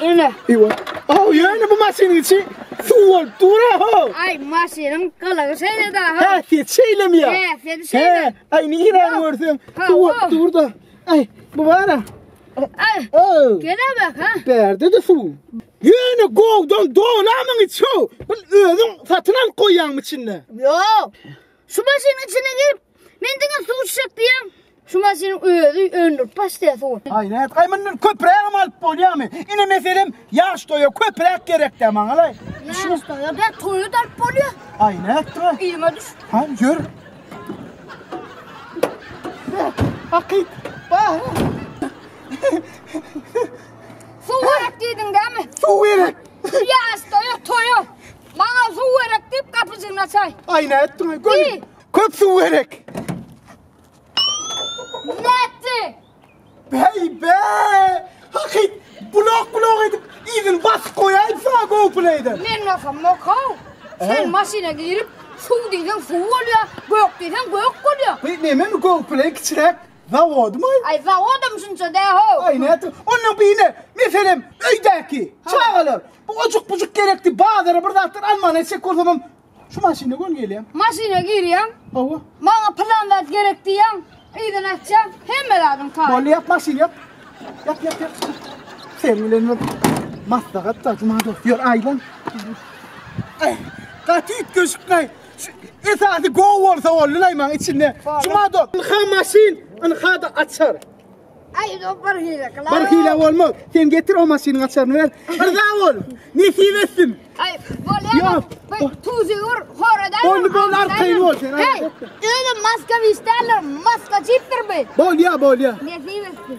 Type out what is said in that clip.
Öne. Ewa. Oh, yani bu maşynyň içi suw olup dura ho. Ay maşynyň kılığı şeýle da ha. Ha, sen şeýle mi ya? He, sen şeýle. He, ay ne giren görsün. Suw olup dur da. Ay, bu var ha. Ay. Oh. Gene bak ha. Berde de suw. Yani govdan dolamın içi ho. Bu özün satın al koyan içinde. Yok. Şu maşynyň içine girip, men diňe suw içjek diýýän. Şu maşynyň özi öndürip başlaýar suwy. Aý, näet, aý mundan köprägem alyp bolýarmy? Ine meselem, ýaş toýa köpräk gerek-dä maňalaý. Ýaş toýa ber, toýa-da alyp bolýar. Aý, nätdiňä? Yzyma düş. Ha, ýör. Hakyt, bara. Suw gerek diýdiň dämi? Suw gerek. Şu ýaş toýa, toýa. Maňa suw gerek diýip gapyjyny açaý. Aý nätdiň? Göl. Köp suw gerek. Nätdi. Bey be! Hakyt bulak bulak edip izin basyp koyayım sana GoPlay'den. Men bakam mokav. Sen maşina girip suw diýseň suw bolýar, gök diýseň gök bolýar. Bu neme mi GoPlay kiçirek? Zawodymy? Aý, zawodam şunça dä-how. Aý, nätdi? Ondan bine, meselem, öýdäki, çagalar, bu ojuk-bujuk gerekdi, bazara bir zatlar almagyna çek bolsamam, şu maşyna göni gelýäň. Maşyna girýäň. Hawa. Maňa pylan zat gerek diýýäň, yzyny açýaň, hemme zadyň taýy. Boldy, ýap maşyny, ýap. Ýap, ýap, ýap. Sen bilen bir maslahat da, Juma dost, ýör, aýlan. Aý, gaty üýtgeşik, aý. Esasy go bolsa boldy laýmaň içinde. Juma dok. Ynha maşyn, ynha da açar. Ay bir hile kılar. Bir hile olmaz. Sen getir o maşynyň açarını ver. Rıza ol. Nesip etsin. Ay bol ya. Tuzi ur horadan. Bol bol arkayın ol sen. Hey. Öyle maska vişterler. Maska çiptir be. Bol ya bol ya. Nesip etsin.